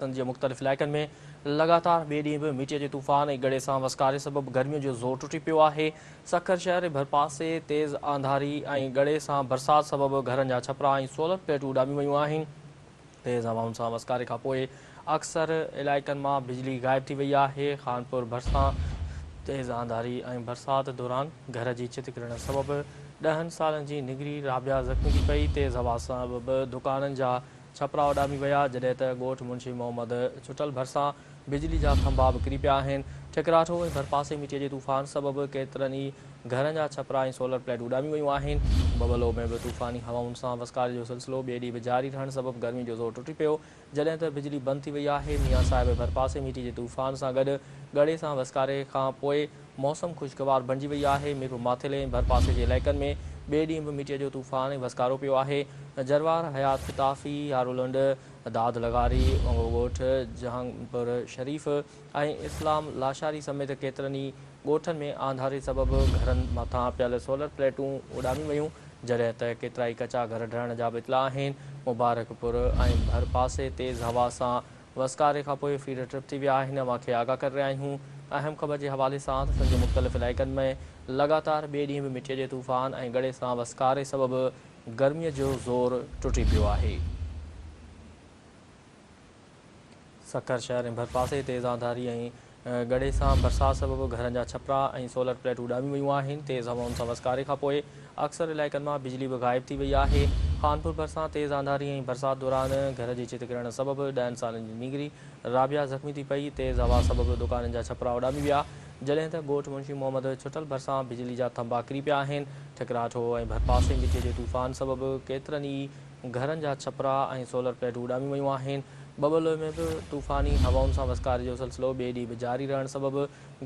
سنڌ جي مختلف علائقن ۾ لڳاتار ٻئي ڏينهن به مٽيء جي طوفان ۽ گڙي سان وسڪاري سبب گرميء جو زور ٽٽي پيو آهي. سکر شهر ۽ ڀرپاسي تيز آنڌاري ۽ گڙي سان برسات سبب گهرن جا ڇپرا ۽ سولر پليٽون اڏاميون ويون آهن. تيز هوائن سان وسڪاري کان پوء اڪثر علائقن مان بجلي غائب ٿي وئي آهي. خانپور ڀرسان تيز آنڌاري ۽ برسات دوران گهر جي ڇت ڪرڻ سبب ڏهن سالن جي نگري رابعه زخمي ٿي پئي. تيز هوا سبب دڪانن جا ڇپرا اڏامي ويا، جڏهن ته ڳوٺ منشي محمد چٽل ڀرسان بجلي جا ٿنڀا به ڪري پيا آهن. ٺڪراٺو ۽ ڀرپاسي مٽيء جي طوفان سبب ڪيترن ئي گهرن جا ڇپرا ۽ سولر پليٽ اڏامي ويون آهن. ببلو ۾ به طوفاني هوائن سان وسڪاري جو سلسلو ٻئي ڏينهن به جاري رهڻ سبب گرمي جو زور ٽٽي پيو، جڏهن ته بجلي بند ٿي وئي آهي. ميان صاحب ڀرپاسي مٽيء جي طوفان سان گڏ ڳڙي سان وسڪاري کان پوء موسم خوشگوار بڻجي وئي آهي، ميرپور ماٿيلي ۽ ڀرپاسي جي علائقن ۾ ٻئي ڏينهن به مٽيء جو طوفان ۽ وسڪارو پيو آهي، جروار، حيات فتافي، هارولنڊ، داد لغاري، انگو ڳوٺ، جهانگپور شريف ۽ اسلام لاشاري سميت ڪيترن ئي ڳوٺن ۾ آنڌاري سبب گهرن مٿان پيل سولر پليٽون اڏامي ويون، جڏهن ته ڪيترائي ڪچا گهر ڊهڻ جا به اطلاع آهن، مبارڪپور ۽ ڀرپاسي تيز هوا سان وسڪاري کان پوء فيڊر ٽرپ ٿي ويا آهن اوهان کي آگاهه ڪري رهيا آهيون اهم خبر جي حوالي سان ته سنڌ جي مختلف علائقن ۾ لڳاتار ٻئي ڏينهن به مٽيء جي طوفان ۽ ڳڙي سان وسڪاري سبب گرمي جو زور ٽٽي پيو آهي. سکر شهر ۽ ڀرپاسي تيز آنڌاري ۽ ڳڙهي سان برسات سبب گهرن جا ڇپرا ۽ سولر پليٽون اڏاميون ويون آهن، تيز هوائن سان وسڪاري کانپوء اڪثر علائقن مان بجلي به غائب ٿي وئي آهي، خانپور ڀرسان تيز آنڌاري ۽ برسات دوران گهر جي ڇت ڪرڻ سبب ڏهن سالن جي نينگري رابعه زخمي ٿي پئي، تيز هوا سبب دڪانن جا ڇپرا اڏامي ويا، جڏهن ته ڳوٺ منشي محمد ڇٽل ڀرسان بجلي جا ٿنڀا ڪري پيا آهن، ٺڪراٺ هو ۽ ڀرپاسي مٽي جي طوفان سبب ڪيترن ئي گهرن جا ڇپرا ۽ سولر پليٽون اڏاميون ويون آهن. ببلوء ۾ به طوفاني هوائن سان وسڪاري جو سلسلو ٻئي ڏينهن به جاري رهڻ سبب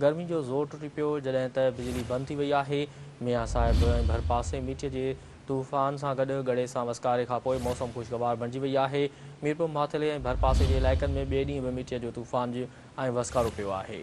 گرمي جو زور ٽٽي پيو، جڏهن ته بجلي بند ٿي وئي آهي. ميان صاحب ۽ ڀرپاسي مٺيء جي طوفان سان گڏ ڳڙي سان وسڪاري کان پوء موسم خوشگوار بڻجي وئي آهي. ميرپور ماٿيلي ۽ ڀرپاسي جي علائقن ۾ ٻئي ڏينهن به مٺيء جو طوفان ۽ وسڪارو پيو آهي.